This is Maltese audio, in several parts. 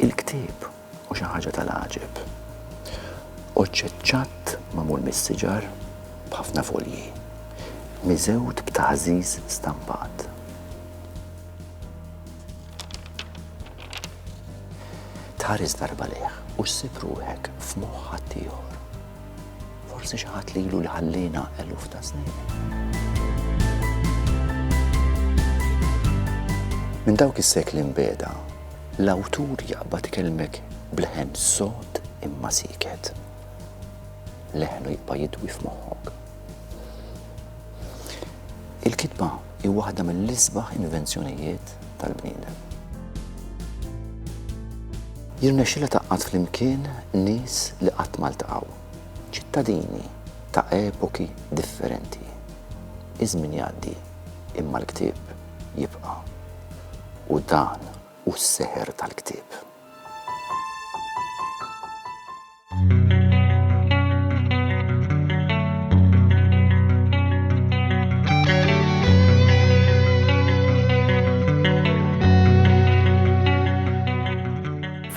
Il-ktieb hu xi ħaġa tal-għaġeb. Oġġett ċatt magħmul mis-siġar b'ħafna folji, miżewt b'taħżiż stampat. Tħares darba lejh u ssib ruħek f'moħħ ħaddieħor. Forsi xi ħadd li ilu li ħalliena eluf ta' snin. Minn dawk is-sekli mbeda, l-awtur jaqbad ikelmek bl-ħen sod imma siket. Leħnu jibqa' jidwi f'moħħok. Il-kitba hi waħda mill-isbaħ invenzjonijiet tal-bniedem. Jirnexxilha tgħaqqad flimkien nies li qatt ma ltaqgħu, ċittadini ta' epoki differenti. Iż-żmien jgħaddi, imma l-ktieb jibqa'. U dan hu s-seħer tal-ktieb.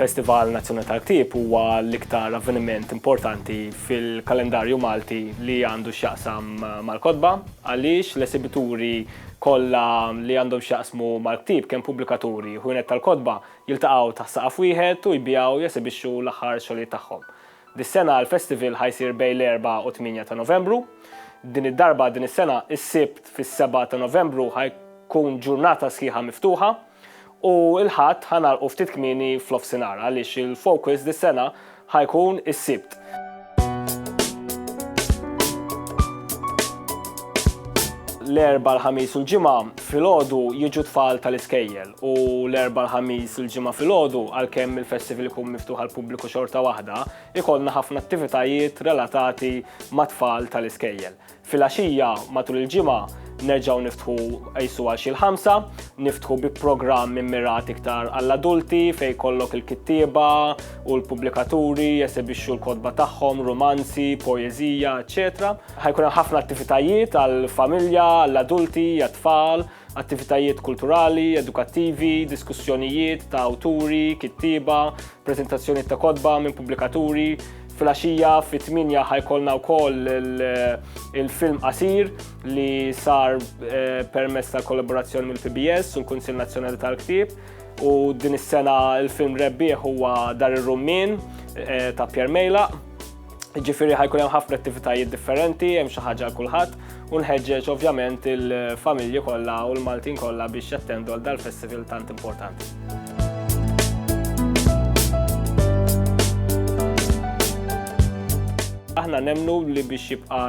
Festival Nazzjonali tal-Ktieb huwa l-iktar avveniment importanti fil-kalendarju Malti li għandu x'jaqsam mal-kotba għaliex l-esibituri kollha li għandhom x'jaqsmu mal-ktieb kemm pubblikaturi u tal-kotba jiltaqgħu taħt saqaf wieħed u jbiegħu u jesibixxu l-aħħar xogħlijiet tagħhom. Dis-sena l-festival ħa jsir bejn l-Erbgħa u t-Tmienja ta' Novembru. Din id-darba din is-sena is-Sibt fis-Sebgħa ta' Novembru ħa jkun ġurnata sħiħa miftuħa u l-Ħadd ħa nagħlqu ftit kmieni f'nofsinhar għaliex il-Focus dis-sena ħa jkun is-Sibt. l-erba l-ħamis u l-ġimgħa filgħodu jiġu tfal tal-iskejjel u l-erba l-ħamis u l-ġimgħa filgħodu għalkemm il-festival ikun miftuħ għal pubbliku xorta waħda, ikollna ħafna attivitajiet relatati ma' tfal tal-iskejjel. Filgħaxija matul il-ġimgħa nerġgħu niftħu qajsu għal xi l-ħamsa, niftħu bi programm immirat iktar għall-adulti fejn jkollok il-kittieba u l-pubblikaturi jesebixxu l-kotba tagħhom, rumanzi, poeżija, eċċetera. Ħajkun hemm ħafna attivitajiet għall-familja, għall-adulti, għat-tfal, attivitajiet kulturali, edukattivi, diskussjonijiet ta' awturi, kittieba, preżentazzjonijiet ta' kotba minn pubblikaturi, Filgħaxija fit-tminja ħa jkollna wkoll il-film qasir li sar eh, permezz ta' kollaborazzjoni mill-PBS u l-Kunsill Nazzjonali tal-Ktieb u din is-sena il-film rebbieħ huwa Dar ir-Rummin eh, ta' Pierre Mejla. Ġifieri ħajkun hemm ħafna attivitajiet differenti, hemm xi ħaġa kulħadd. u nħeġġeġ ovvjament il-familji kollha u l-Maltin kollha biex jattendu għal dal-festival tant importanti. Aħna nemnu li biex jibqa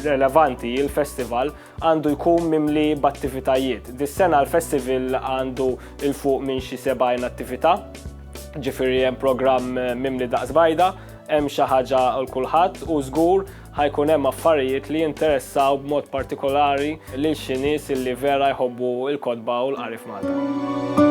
relevanti il-festival għandu jkun mimli b'attivitajiet. Dis-sena l-festival għandu il-fuq minn xi 70 attività, ġifiri hemm programm mimli daqs bajda, hemm xi ħaġa l kulħadd u żgur Ħa jkun hemm affarijiet li jinteressaw b'mod partikolari lil xi nies li vera jħobbu l-kotba u l-qari f'Malta.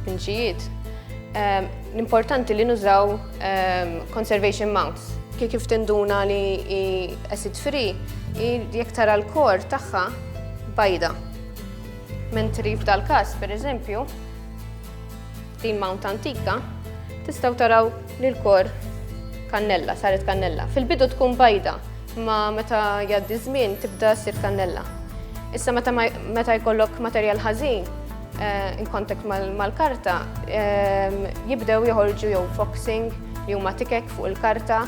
Tpinġijiet. Ehm, l-importanti li nużaw ehm, conservation mounts. Kif kif tinduna li i acid free, jek tara l-kor tagħha bajda. Mentri f'dal każ, per eżempju, din mount antika, tistaw taraw li l-kor kannella, saret kannella. Fil-bidu tkun bajda, ma meta jaddi żmien tibda sir kannella. Issa meta jkollok materjal ħażin, in contact mal-karta jibdew joħorġu jew foxing li huma tikek fuq il-karta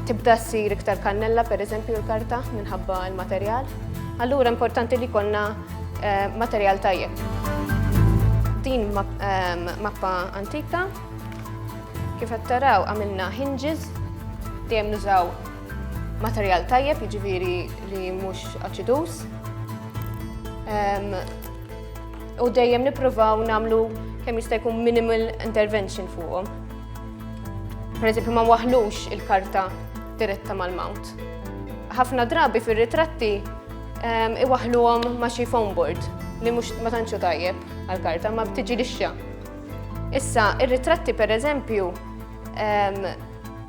tibda ssir iktar kannella per eżempju l-karta minħabba l-materjal. Allura importanti li konna materjal tajjeb. Din mappa antika kif qed taraw għamilna hinges dejjem nużaw Materjal tajjeb, jiġifieri li mhux aċiduż. Ehm, u dejjem nippruvaw nagħmlu kemm jista' jkun minimal intervention fuqhom. Per eżempju ma waħlux il-karta diretta mal-mount. Ħafna drabi fir-ritratti ehm, iwaħluhom ma' xi foam board li mhux ma tantxu tajjeb għall-karta ma btiġi lixxa. Issa, ir-ritratti per eżempju ehm,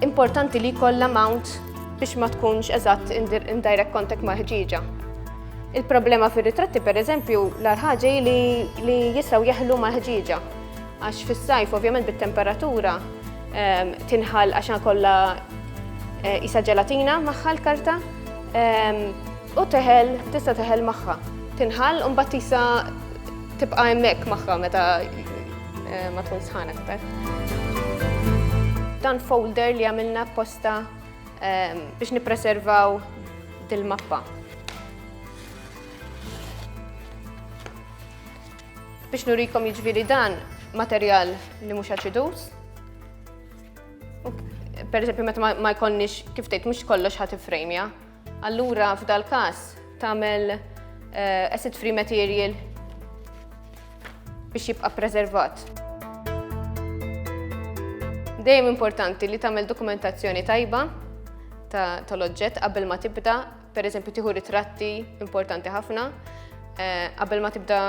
Importanti li jkollha mount biex ma tkunx eżatt in direct contact ma' ħġieġa. Il-problema fir-ritratti pereżempju l-arħaġi li, li jistgħu jeħlu ma' ħġieġa. Għax fis-sajf ovvjament bit-temperatura ehm, tinħal għax kollha eh, isa ġelatina magħha l-karta ehm, u teħel tista' teħel magħha. Tinħal u mbagħad tisa tibqa' hemmhekk magħha meta Eh, ma tkun sħan aktar. Dan folder li għamilna posta ehm, biex nipreservaw dil-mappa. Biex nurikom jiġviri dan materjal li mhux aċidus. Per eżempju, meta ma jkollniex kif tgħid mhux kollox ħadd ifrejmja. Allura f'dal-każ tagħmel eh, acid free material biex jibqa' preservat. Dejjem importanti li tagħmel dokumentazzjoni tajba tal-oġġett qabel ma tibda, pereżempju tieħu ritratti importanti ħafna, eh, qabel ma tibda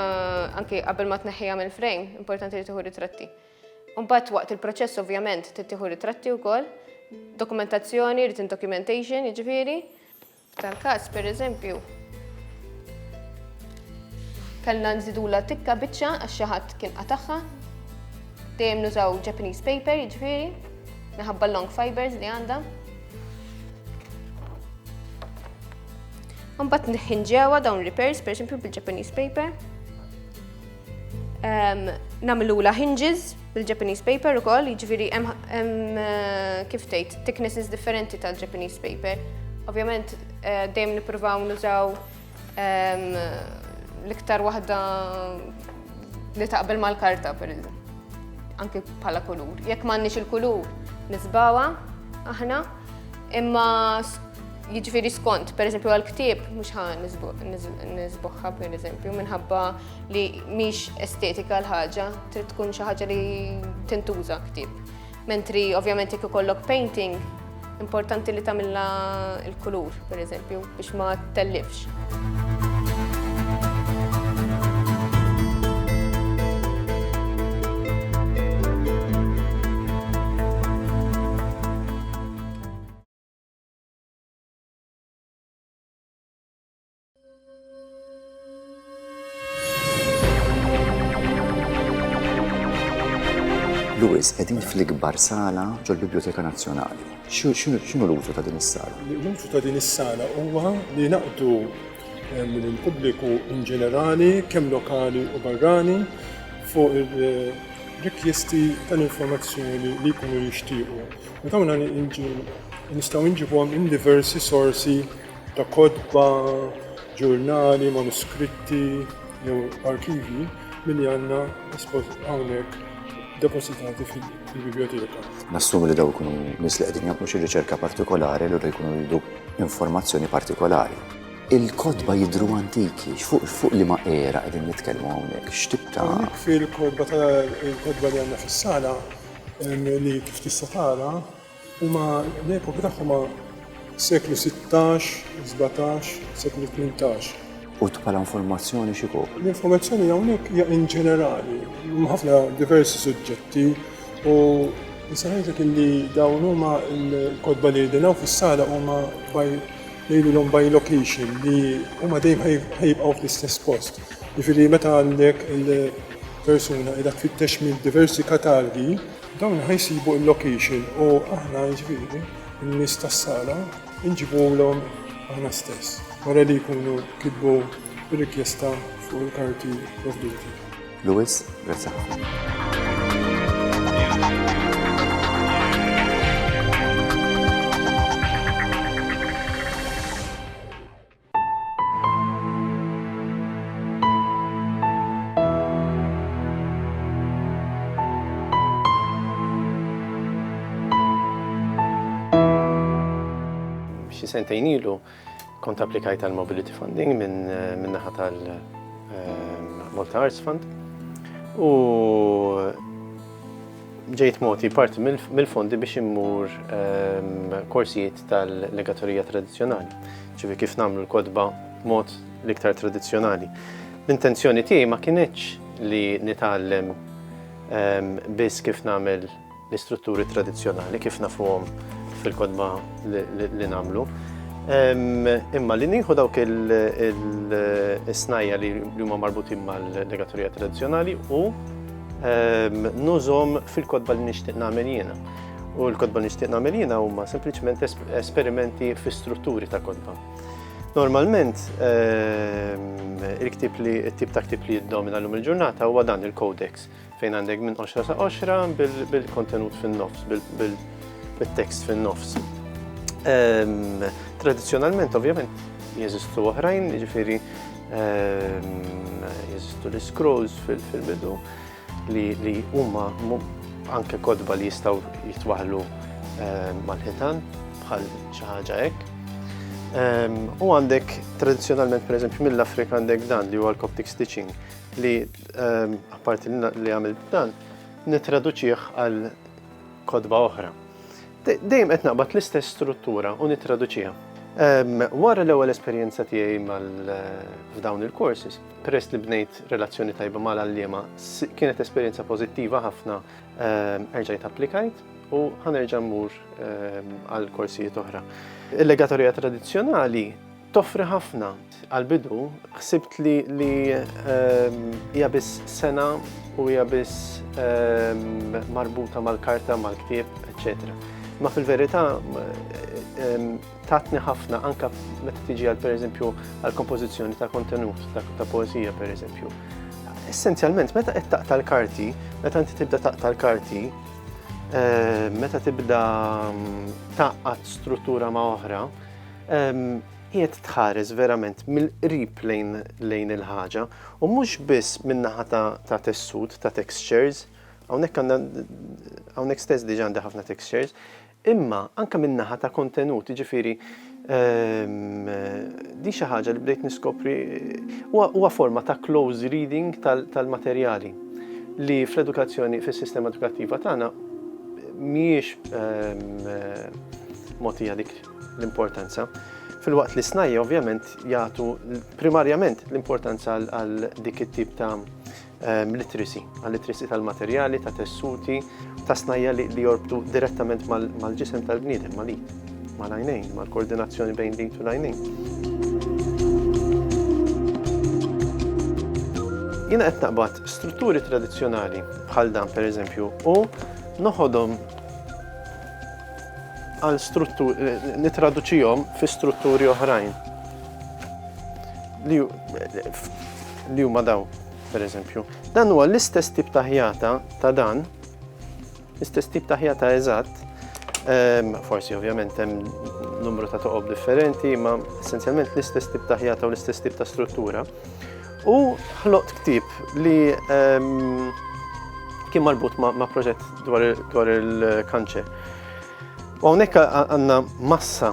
anke qabel ma tneħħiha mill-frame, importanti li tieħu ritratti. Imbagħad waqt il-proċess ovvjament trid tieħu ritratti wkoll, dokumentazzjoni, written documentation jiġifieri. Tal-każ pereżempju kellna nżidula tikka biċċa għax xi ħadd kien qatagħha. Dejjem nużaw Japanese paper jiġifieri, minħabba long fibers li għandha. Mbagħad nħinġewa dawn repairs, pereżempju bil-Japanese paper. Nagħmilula hinges bil-Japanese paper ukoll, jiġifieri hemm eh, kif tgħid thicknesses differenti tal-Japanese paper. Ovvjament eh, dejjem nippruvaw nużaw l-iktar waħda li taqbel mal-karta per anki bħala kulur. Jekk m'għandniex il-kulur nisbawa aħna, imma jiġifieri skont, per eżempju għal ktieb mhux ħa nisbuħħa per eżempju minħabba li mhix estetika l-ħaġa, trid tkun xi ħaġa li tintuża ktib. Mentri ovvjament jekk ikollok painting, importanti li tagħmilha l-kulur, pereżempju, biex ma tellifx. Lewis, qegħdin fl-ikbar sala ġol-Biblioteka Nazzjonali. X'inhu l-użu ta' din is-sala? L-użu ta' din is-sala huwa li naqdu eh, mill-pubbliku in ġenerali, kemm lokali u barrani, fuq il-rikjesti eh, tal-informazzjoni li jkunu jixtiequ. U dawn nistgħu nġibhom in diversi sorsi ta' kotba, ġurnali, manuskritti jew arkivji milli għandna hawnhekk depositati fil-bibljoteka. Nassumi li dawn ikunu nies li qegħdin jagħmlu xi riċerka partikolari allura jkunu jridu informazzjoni partikolari. Il-kotba jidhru antiki, fuq liema era qegħdin nitkellmu hawnhekk, x'tip ta'. Hawnhekk fil-kotba li għandna fis-sala li kif tista' tara Huma l-epoka tagħhom ma' seklu sittax, sbatax, seklu tmintax. U bħala informazzjoni x'ikopri? L-informazzjoni hawnhekk hija in ġenerali, huma ħafna diversi suġġetti u nista' ngħidlek illi dawn huma l-kotba li qegħdin hawn fis-sala huma by ngħidulhom by location li huma dejjem ħajibqgħu fl-istess post. Jiġifieri meta għandek il-persuna qiegħda tfittex minn diversi katalgi, Dawn ħa jsibu il-location u aħna jiġifieri n-nies tas-sala nġibulhom aħna stess wara li jkunu kitbu r-rikjesta fuq il-karti provduti. Louis, grazzi ħafna. Xi sentejn ilu kont applikajt għal mobility funding minn eh, min naħa tal eh, Malta Arts Fund u ġejt moti parti mill-fondi biex immur eh, korsijiet tal-legaturija tradizzjonali, ċivi kif nagħmlu l-kotba mod l-iktar tradizzjonali. L-intenzjoni tiegħi ma kinitx li nitgħallem ehm, biss kif nagħmel l-istrutturi tradizzjonali kif nafuhom fil-kodba li namlu. Imma li nieħu dawk il-snajja li huma marbutin mal-legaturija tradizzjonali u nużom fil-kodba li nixtieq nagħmel jiena. U l-kodba li nixtieq nagħmel jiena huma sempliċement esperimenti fi strutturi ta' kodba. Normalment, ehm, il-ktib li, il-tip ta' ktib li jiddomina l-lum il-ġurnata huwa dan il-codex, fejn għandek minn 10 sa' 10 bil-kontenut fin-nofs, bil-tekst fin-nofs. Ehm, Tradizjonalment, ovvjament, jeżistu oħrajn, ġifiri, ehm, jeżistu l-scrolls fil-bidu. fil bidu li huma anke kotba li jistgħu jitwaħlu eh, mal-ħitan bħal xi ħaġa hekk. Ehm, u għandek tradizzjonalment pereżempju mill-Afrika għandek dan li huwa l-Coptic stitching li ehm, apparti li għamil dan nitraduċih għal kodba oħra. Dejjem qed naqbad l-istess struttura u nitraduċiha. Ehm, wara l-ewwel esperjenza tiegħi mal eh, f'dawn il-courses, Peress li bnejt relazzjoni tajba mal-għalliema, kienet esperjenza pożittiva ħafna, ehm, erġajt applikajt u ħanerġa' mmur ehm, għal korsijiet oħra. Il-legatorija tradizzjonali toffri ħafna għal-bidu, ħsibt li li ehm, hija biss sena u hija biss marbuta mal-karta, mal-ktieb, eccetera. Ma fil-verità tatni ħafna anka meta tiġi għal pereżempju għal kompożizzjoni ta' kontenut ta' poeżija pereżempju. Essenzjalment meta qed taqta' l-karti, meta inti tibda taqta' l-karti, eh, meta tibda mm, taqqat struttura ma' oħra, ehm, qiegħed tħares verament mill-qrib lejn lejn il-ħaġa u mhux biss min-naħa ta' tessut, ta' textures, hawnhekk għandna hawnhekk stess diġà għandha ħafna textures, Imma anke min-naħa ta' kontenut, jiġifieri din xi ħaġa li bdejt niskopri huwa forma ta' close reading tal-materjali li fl-edukazzjoni fis-sistema edukattiva tagħna mhijiex mogħtija dik l-importanza. Filwaqt li snajja ovvjament jagħtu primarjament l-importanza għal dik it-tip ta' Literacy, għal-literacy tal-materjali, ta' tessuti, ta' snajja li jorbtu direttament mal-ġisem tal-bniedem, mal-id, mal-għajnejn, mal-koordinazzjoni bejn l-id u l-għajnejn. Jiena qed naqbad strutturi tradizzjonali bħal dan pereżempju u noħodhom għal struttur, nitraduċijom fi strutturi oħrajn. li huma dawn, pereżempju. Dan huwa l-istess tip ta' ħjata ta' dan, l-istess tip ta' ħjata eżatt, ehm, forsi ovvjament hemm numru ta' toqob differenti, ma essenzjalment l-istess tip ta' ħjata u l-istess tip ta' struttura. U ħloqt ktib li ehm, kien marbut ma' proġett dwar il-kanċer. U hawnhekk għandna massa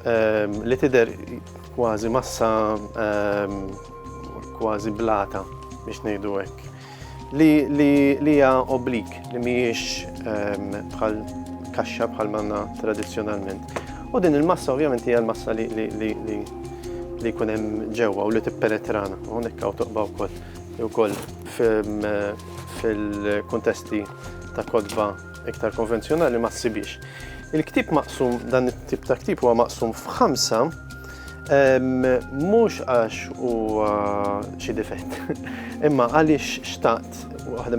ehm, li tidher kważi massa kważi blata biex ngħidu hekk, li hija oblik li mhijiex ehm, bħal kaxxa bħal manna tradizzjonalment. U din il-massa ovvjament hija l-massa li li jkun hemm ġewwa u li tippenetrana u hawnhekk hawn toqba wkoll ukoll fil-kuntesti ta' kodba iktar konvenzjonali ma ssibix. Il-ktib maqsum, dan it-tip ta' ktib huwa maqsum f'ħamsa Mhux għax huwa xi difett, imma għaliex xtaqt waħda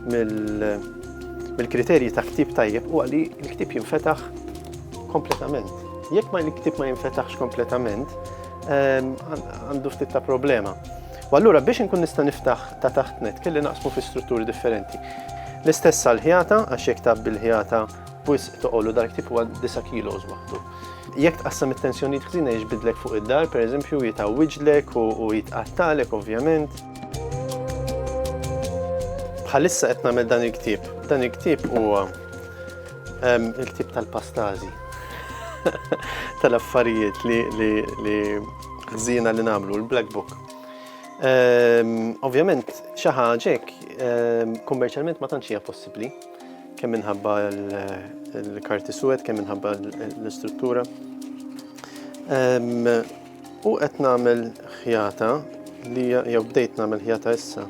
mill-kriterji ta' ktib tajjeb u għalli l-ktib jinfetaħ kompletament. Jekk ma l-ktib ma jinfetaħx kompletament, għandu ftit ta' problema. U allura biex nkun nista' niftaħ ta' taħt net kelli naqsmu fi strutturi differenti. L-istess għal-ħjata, għax jekk tab bil-ħjata Wisq toqol u dal-ktieb huwa disa' kilos waħdu. Jekk tqassam it-tensjonijiet ħżiena jiġbidlek fuq id-dar, pereżempju, jitgħawwiġlek u jitqattagħlek ovvjament. Bħalissa qed nagħmel dan il-ktieb. Dan il-ktieb huwa il-ktieb tal-pastażi. Tal-affarijiet li ħżiena li nagħmlu, l-black book. Ovvjament, xi ħaġa hekk kummerċjalment ma tantx hija possibbli. Kemm minħabba l-karti suwed, kemm minħabba l-istruttura. U qed nagħmel ħjata li jew bdejt nagħmel ħjata issa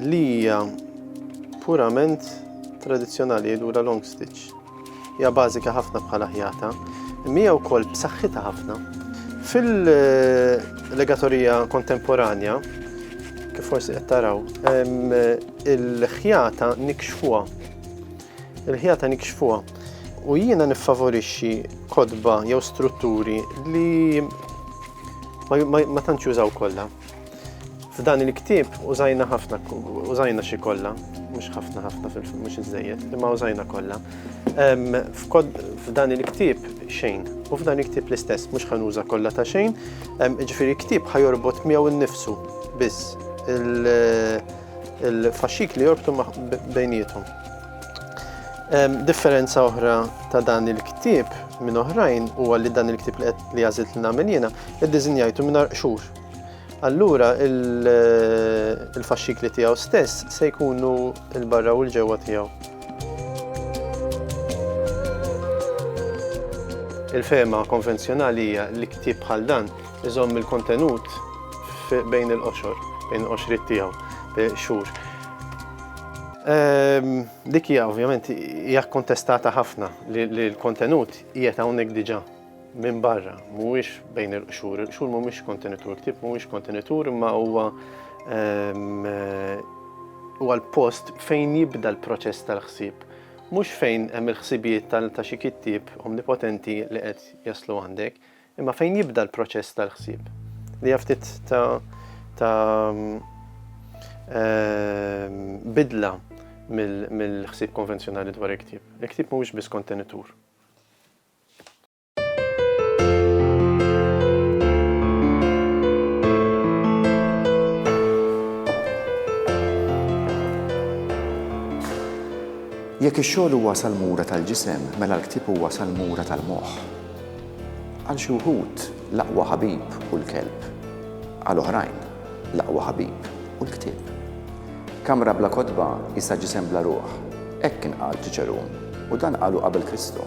li hija purament tradizzjonali jgħidula long stitch. Hija bażika ħafna bħala ħjata, imma hija wkoll b'saħħitha ħafna. Fil-legatorija kontemporanja, kif forsi qed taraw, il-ħjata nikxfuha. Il-ħjata nikxfuha. U jiena niffavorixxi kodba jew strutturi li ma tantx jużaw kollha. F'dan il-ktieb użajna ħafna, użajna xi kollha, mhux ħafna ħafna mhux iżejjed, imma użajna kollha. F'dan il-ktieb xejn, u f'dan il-ktieb l-istess mhux ħanuża kollha ta' xejn, ġifieri ktieb ħajorbot miegħu nnifsu biss il-faxxik li jorbtu bejniethom. Differenza oħra ta' dan il-ktieb minn oħrajn huwa li dan il-ktieb li qed li għażilt li nagħmel jiena iddiżinjajtu mingħajr qxur. Allura il-faxxikli tiegħu stess se jkunu l-barra u l-ġewwa tiegħu. Il-fema konvenzjonali hija li ktieb bħal dan iżomm il-kontenut bejn il-qoxor, bejn il-qoxrit tiegħu, xhur. Dik hija ovvjament hija kkontestata ħafna li l-kontenut qiegħed hawnhekk diġà minn barra, mhuwiex bejn il-qxur. Il-qxur mhumiex kontenitur, il-ktieb mhuwiex kontenitur imma huwa huwa l-post fejn jibda l-proċess tal-ħsieb. Mhux fejn hemm il-ħsibijiet ta' xi kittieb omnipotenti li qed jaslu għandek. Imma fejn jibda l-proċess tal-ħsieb? Li hija ftit ta' ta' ehm, bidla mill-ħsieb konvenzjonali dwar il-ktieb. Il-ktieb mhuwiex biss kontenitur. Jekk ix-xogħol huwa salmura tal-ġisem, mela l-ktieb huwa salmura tal-moħħ. Għal xi wħud, l-aqwa ħabib hu l-kelb. Għal oħrajn, l-aqwa ħabib hu l-ktieb. Kamra bla kotba qisha ġisem bla ruħ, hekk kien qal Ċiċerun, u dan qalu qabel Kristu.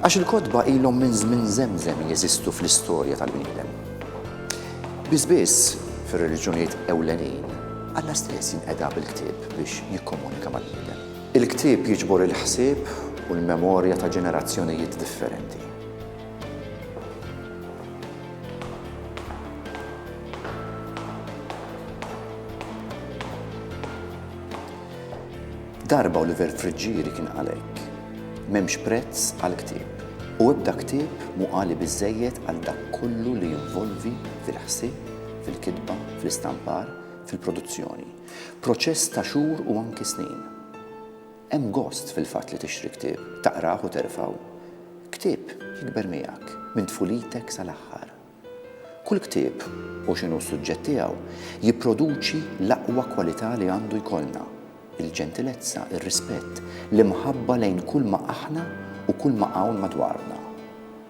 Għax il-kotba ilhom minn żmien żemżem jeżistu fl-istorja tal-bniedem. Biss biss, fir-reliġjonijiet ewlenin, Alla stess jinqeda bil-ktieb biex jikkomunika mal-bniedem. Il-ktieb jiġbor il-ħsieb u l-memorja ta' ġenerazzjonijiet differenti. Darba Oliver Friggieri kien għalhekk, m'hemmx prezz għal ktieb u ebda ktieb mhu għali biżżejjed għal dak kollu li jinvolvi fil-ħsieb, fil-kitba, fl-istampar, fil-produzzjoni. Proċess ta' xhur u anki snin. Hemm gost fil-fatt li tixtri ktieb, taqrah u terfgħu. Ktieb jikber miegħek minn tfulitek sal-aħħar. Kull ktieb, u x'inhu s-suġġett tiegħu, jipproduċi l-aqwa kwalità li għandu jkollna, il-ġentilezza, ir-rispett, l-imħabba lejn kulma aħna u kulma hawn madwarna.